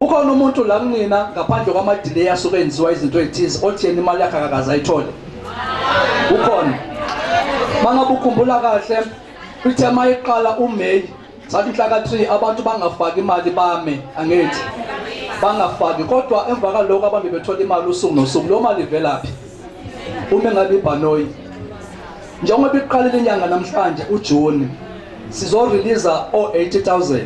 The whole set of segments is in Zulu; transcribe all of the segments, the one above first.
Ukhona umuntu la kunina ngaphandle kwamadelay asuke enziwa izinto ezithize othi yena imali yakhe akakaze ayithole. Ukhona. Mangabe ukhumbula kahle ithe mayiqala uMay sathi inhlaka 3 abantu bangafaki imali bame angithi bangafaki kodwa emva kaloko abantu bethola imali usuku nosuku lo mali ivelaphi uma ngabe ibhanoyi njengoba iqalile inyanga namhlanje uJune sizo release o 80000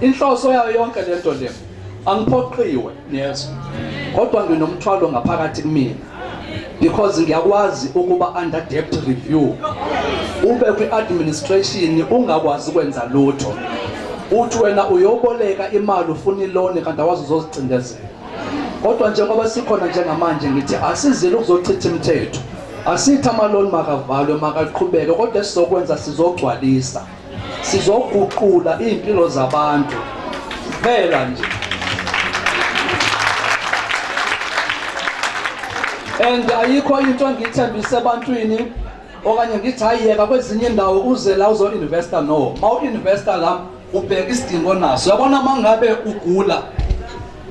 Inhloso yayo yonke lento le angiphoqiwe niyezwa kodwa nginomthwalo ngaphakathi kumina because ngiyakwazi ukuba under debt review ube kwi-administration ungakwazi ukwenza lutho uthi wena uyoboleka imali ufuna iloni kanti awazi uzozicindezela kodwa njengoba sikhona njengamanje ngithi asizile ukuzochitha imithetho asithi amaloni makavalwe makaqhubeke kodwa esizokwenza sizogcwalisa sizoguqula iy'mpilo zabantu kuphela nje and ayikho into engiyithembise ebantwini okanye ngithi hayiyeka kwezinye indawo uze la uzo-investa no ma u-investa la ubheka isidingo naso yabona uma ngabe ugula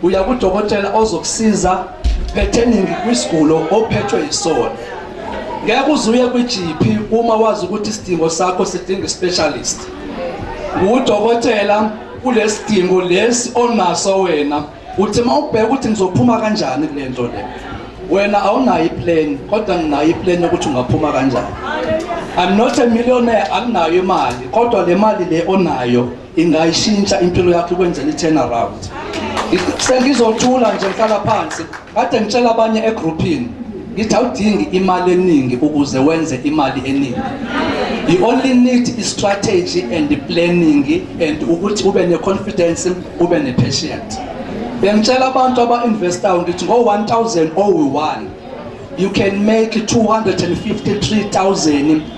Uya kudokotela ozokusiza pertaining kwisigulo ophethwe yisona. Ngeke uzuye kwi-GP uma wazi ukuthi isidingo sakho sidinga i-specialist. Ngudokotela kulesidingo lesi onaso wena. Uthi mawubheka ukuthi ngizophuma kanjani kule nto le. Wena awunayo i-plan kodwa nginayo i-plan yokuthi ungaphuma kanjani. I'm not a millionaire, anginayo imali kodwa le mali le onayo ingayishintsha impilo yakho ikwenze i-turn around sengizothula nje ngihlala phansi kade ngitshela abanye egrouphini ngithi awudingi imali eningi ukuze wenze imali eningi you only need i-strategy and planning and ukuthi ube ne-confidence ube ne-patient bengitshela abantu aba-investayo ngithi ngo-1000 owu-1 you can make 253,000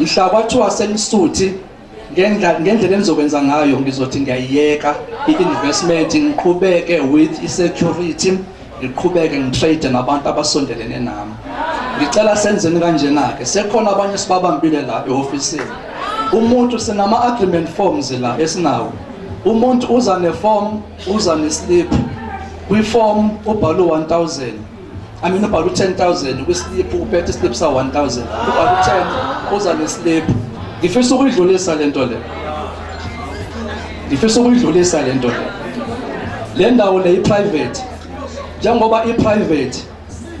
mhla kwathiwa senisuthi ngendlela ngendlela enizokwenza ngayo ngizothi ngiyayiyeka i-investment ngiqhubeke with i-security ngiqhubeke ngitrade nabantu abasondelene nami ngicela senzeni kanjena-ke sekhona abanye sibabambile la ehofisini umuntu sinama-agreement forms la esinawo umuntu uza ne-form uza ne-slip kwi-form ubhalwe 1000 I mean ubhala u-10000 kwisliphu uphethe isliphu sa-1000 ubhala u-10 uza nesliphu ngifisa ukuyidlulisa le nto le ngifisa ukuyidlulisa le nto le le ndawo le i-private njengoba i-private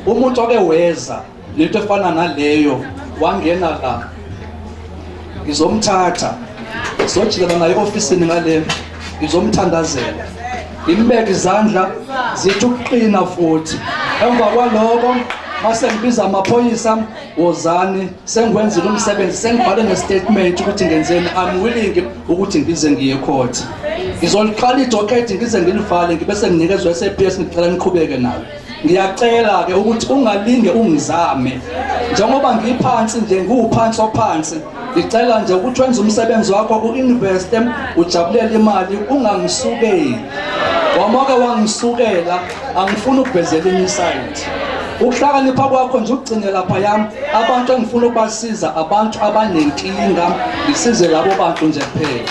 umuntu oke weza nento efana naleyo wangena la ngizomthatha sojikela naye ofisini ngale ngizomthandazela ngimbeke izandla zithi ukuqina futhi emva kwaloko mase ngibiza amaphoyisa wozani sengiwenzile umsebenzi sengibhale nestatement ukuthi ngenzeni i'm willing ukuthi ngize ngiye court ngizoliqala idokhethi ngize ngilivale ngibe senginikezwa i-saps ngicela niqhubeke nalo ngiyacela-ke ukuthi ungalinge ungizame njengoba ngiphansi nje ngiwuphansi ophansi ngicela nje ukuthi wenze umsebenzi wakho u-investe ujabulele imali ungangisukeli wamoke wangisukela angifuni ukuvezela enye isayidi ukuhlakanipha kwakho nje ukugcine lapha yami abantu engifuna ukubasiza abantu abanenkinga ngisize labo bantu nje kuphela